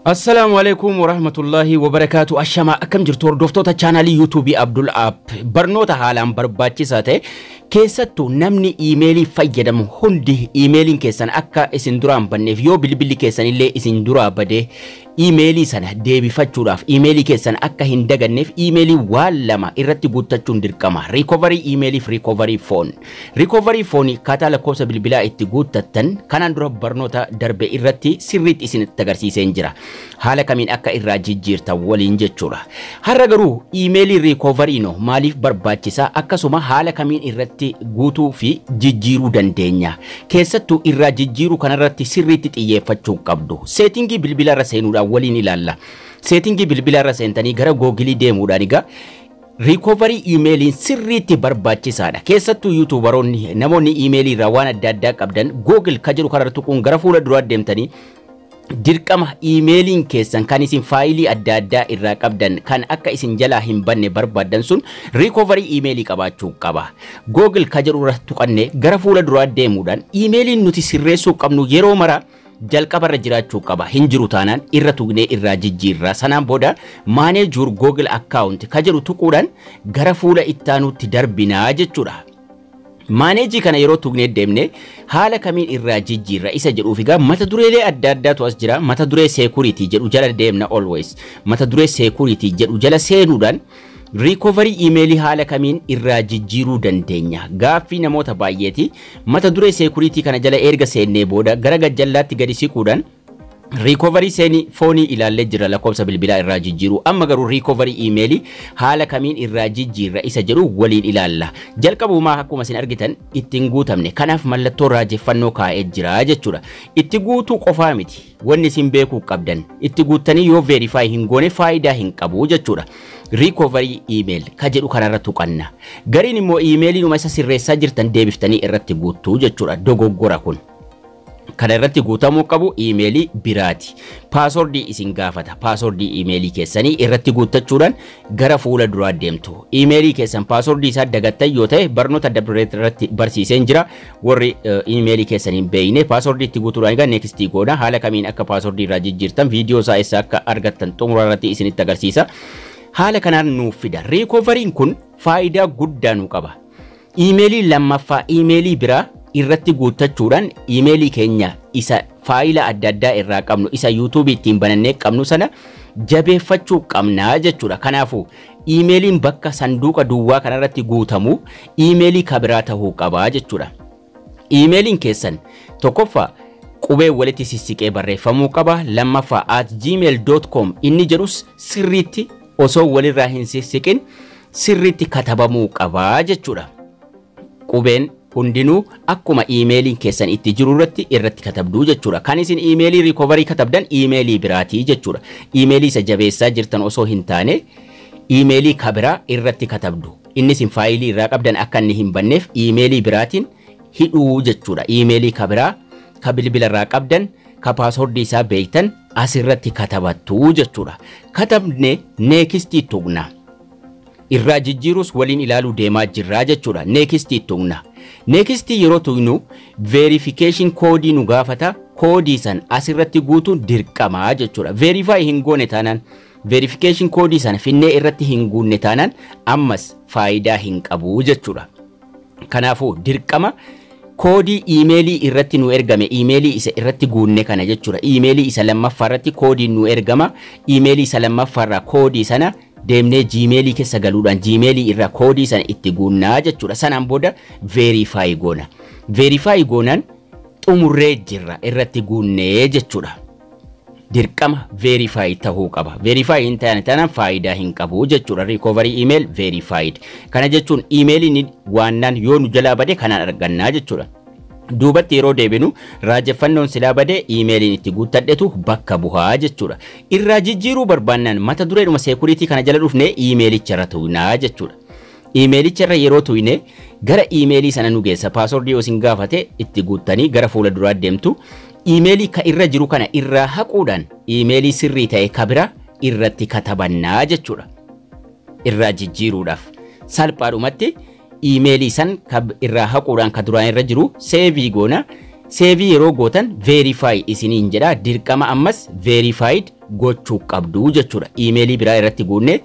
Assalaamu alaikum warahmatullahi wabarakaatu ashamaa akkam jirtu hordoftoota chaanaalii yuutuubii Abdul App barnoota haalaan barbaachisaa ta'e keessattuu namni iimeelii fayyadamu hundi iimeeliin keessan akka isin duraan banneef yoo bilbilli keessan illee isin duraa badee iimeelii sana deebifachuudhaaf iimeelii keessan akka hin daganneef iimeelii waan lama irratti guuttachuun dirqama riikovarii iimeeliif riikovarii foon Recovery Phone akkaataa lakkoofsa bilbilaa itti guuttattan kanaan dura barnoota darbe irratti sirriitti isinitti agarsiiseen jira. Haala kamiin akka irraa jijjiirtan waliin jechuudha. Har'a garuu iimeelii recovery no maaliif barbaachisa akkasuma haala kamiin irratti guutuu fi jijjiiruu dandeenya. Keessattuu irraa jijjiiruu kanarratti sirriitti xiyyeeffachuu qabdu. Seetingii bilbilarra seenuudhaan waliin ilaalla. Seetingii bilbilarra seentanii gara googilii deemuudhaan egaa Recovery iimeeliin sirriitti barbaachisaadha. Keessattuu yuutuubaroonni namoonni iimeelii irraa waan adda addaa qabdan Google ka jedhu kanarra tuquun gara fuula duraa deemtanii dirqama iimeeliin keessan kan isin faayilii adda addaa irraa qabdan kan akka isin jalaa hin banne barbaaddan sun recovery iimeelii qabaachuu qaba. Google ka jedhu irra tuqannee gara fuula duraa deemuudhaan iimeeliin nuti sirreessuu qabnu yeroo maraa jalqabarra jiraachuu qaba hin jiru taanaan irra tugnee irraa jijjiirra sanaan booda manage your google account ka jedhu tuquudhaan gara fuula ittaanuutti darbinaa jechuudha. Maaneejii kana yeroo tugnee deemne haala kamiin irraa jijjiirra isa jedhuuf egaa mata dureelee adda addaatu as jira mata duree seekuriitii jedhu jala deemna always mata duree seekuriitii jedhu jala seenuudhaan Recovery Email haala kamiin irraa jijjiiruu dandeenya? Gaaffii namoota baay'eeti. Mata duree seekuriitii kana jala erga seennee booda gara gajjallaatti gadi siquudhaan Recovery seenii foonii ilaallee jirra lakkoofsa bilbilaa irraa jijjiiruu. Amma garuu recovery email haala kamiin irraa jijjiirra isa jedhu waliin ilaalla. Jalqabumaa akkuma isin argitan ittiin guutamne. Kanaaf mallattoo raajeffannoo kaa'ee jira jechuudha. Itti guutuu qofaa miti. Wanni isin beekuu qabdan itti guuttanii yoo verify hin goone faayidaa hin qabu jechuudha. Recovery email ka jedhu kanarra tuqanna. Gariin immoo iimeeliinuma isa sirreessaa jirtan deebiftanii irratti guuttu jechuudha. Dogoggora kun. Kana irratti guutamuu qabu iimeelii biraati. Paaswordii isin gaafata. Paaswordii iimeelii keessanii irratti guuttachuudhaan gara fuula duraa deemtu. Iimeelii keessan paaswordii isaa dagattan yoo ta'e barnoota adda irratti barsiiseen jira. Warri iimeelii keessan hin beekne paaswordii itti guutuudhaan egaa neekstii goona. Haala kamiin akka paaswordii irraa jijjiirtan viidiyoo isaa eessa akka argattan xumura irratti isinitti agarsiisa. Haala kanaan nuuf fida. Riikoovariin kun faayidaa guddaa nu qaba. Iimeelii lammaffaa iimeelii biraa irratti guuttachuudhaan iimeelii keenya isa faayila adda addaa irraa qabnu isa yuutuubii ittiin banannee qabnu sana jabeeffachuu qabna jechuudha. Kanaafuu Iimeeliin bakka sanduuqa duwwaa kana irratti guutamu iimeelii ka biraa tahuu qaba jechuudha. Iimeeliin keessan tokkoffaa qubee walitti sissiqee barreeffamuu qaba, lammaffaa at gmail.com inni jedhus sirriitti osoo walirraa hin sissiqin sirriitti katabamuu qaba jechuudha. Qubeen hundinuu akkuma iimeeliin keessan itti jiru irratti irratti katabdu jechuudha. Kan isin iimeelii recovery katabdan iimeelii biraati jechuudha. Iimeelii isa jabeessaa jirtan osoo hin taane iimeelii ka biraa irratti katabdu. Inni isin faayilii irraa qabdan akka inni hin banneef iimeelii biraatiin hidhuu jechuudha. Iimeelii ka biraa ka bilbila irraa qabdan ka paaswordii isaa beektan asirratti katabattu jechuudha. Katabne neekistii tuqna. irraa jijjiiruus waliin ilaaluu deemaa jirra jechuudha. Next itti tuqna. Next yeroo tuqnu verification koodii nu gaafata. Koodii san asirratti guutuun dirqama jechuudha. Verify hin goone taanaan verification koodii sana finnee irratti hin guunne taanaan ammas faayidaa hin qabu jechuudha. Kanaafuu dirqama koodii iimeelii irratti nu ergame iimeelii isa irratti guunne kana jechuudha. Iimeelii isa lammaffaa irratti koodiin nu ergama. Iimeelii isa lammaffaa irraa koodii sana deemnee jiimeelii keessa galuudhaan jiimeelii irraa koodii sana itti guunnaa jechuudha. Sanaan booda veerifaayi goona. Veerifaayi goonaan xumurree jirra irratti guunnee jechuudha. dirqama verify tahuu qaba. Verify hin taane taanaan faayidaa hin qabu jechuudha. Recovery email verified. Kana jechuun imeeliin waannaan yoo nu jalaa bade kanaan argannaa jechuudha. Duubatti yeroo deebinu raajeffannoon silaa bade imeeliin itti guuttadhetu bakka buhaa jechuudha. Irraa jijjiiruu barbaannaan mata dureedhuma seekuriitii kana jala dhufnee imeelicha irra tuqnaa jechuudha. Imeelicha irra yeroo tuqne gara imeelii sana nu geessa. Paaswordii yoo isin gaafate itti guuttanii gara fuula duraa deemtu. Iimeelii ka irra jiru kana irraa haquudhaan iimeelii sirrii ta'e ka bira irratti katabanna jechuudha. Irraa jijjiiruudhaaf salphaadhumatti iimeelii san ka irraa haquudhaan ka duraan irra jiru seevii goona. Seevii yeroo gootan verify isiniin jedha dirqama ammas verified gochuu qabdu jechuudha. Iimeelii biraa irratti guunnee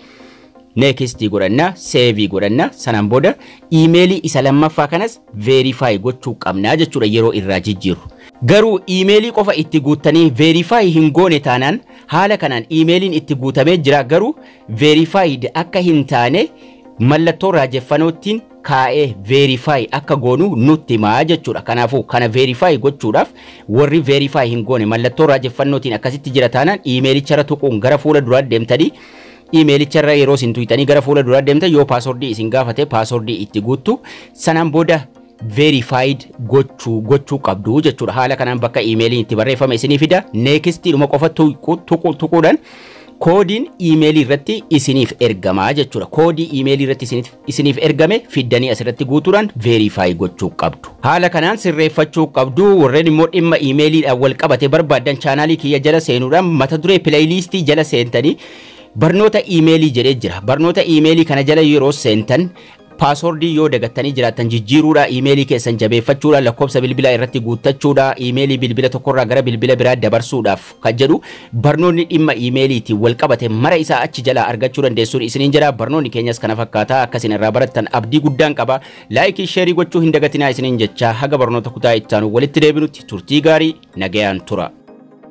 Next godhanna, save godhanna, sanaan booda iimeelii isa lammaffaa kanas verify gochuu qabna jechuudha yeroo irraa jijjiirru. Garuu iimeelii qofa itti guuttanii verify hin goone taanaan haala kanaan iimeeliin itti guutamee jira garuu verified akka hin taane mallattoo raajeffanoottiin kaa'ee verify akka goonu nutti himaa jechuudha. Kanaafuu kana verify gochuudhaaf warri verify hin goone mallattoo raajeffannootiin akkasitti jira taanaan iimeelicharra tuquun gara fuula duraa deemtanii Iimeelicha irra yeroo isin tuqxanii gara fuula duraa deemtan yoo paaswordii isin gaafate paaswordii itti guuttu sanaan booda verified gochuu gochuu qabdu jechuudha. Haala kanaan bakka iimeeliin itti barreeffame isinii fida. Neekistii dhuma qofa tuqu- tuqu- tuquudhaan koodiin iimeelii irratti isiniif ergama jechuudha. Koodii iimeelii irratti isiniif isiniif ergame fiddanii asirratti guutuudhaan verify gochuu qabdu. Haala kanaan sirreeffachuu qabdu warreen immoo dhimma iimeeliidhaan wal qabate barbaaddan chaanaalii kiyya jala seenuudhaan mata duree pileeyiliistii jala seentanii barnoota iimeelii jedhee jira. Barnoota iimeelii kana jala yeroo seentan paaswordii yoo dagattanii jiraattan jijjiiruudha iimeelii keessan jabeeffachuudha lakkoofsa bilbilaa irratti guuttachuudha iimeelii bilbila tokkorraa gara bilbila biraa dabarsuudhaaf kan jedhu barnoonni dhimma iimeeliitiin wal qabate mara isaa achi jalaa argachuu dandeessuun isiniin jedha barnoonni keenyas kana fakkaata akka isin irraa barattan abdii guddaan qaba laayikii sheerii gochuu hin dagatinaa isiniin jechaa haga barnoota kutaa ittaanu walitti deebinutti turtii gaarii nagayaan tura.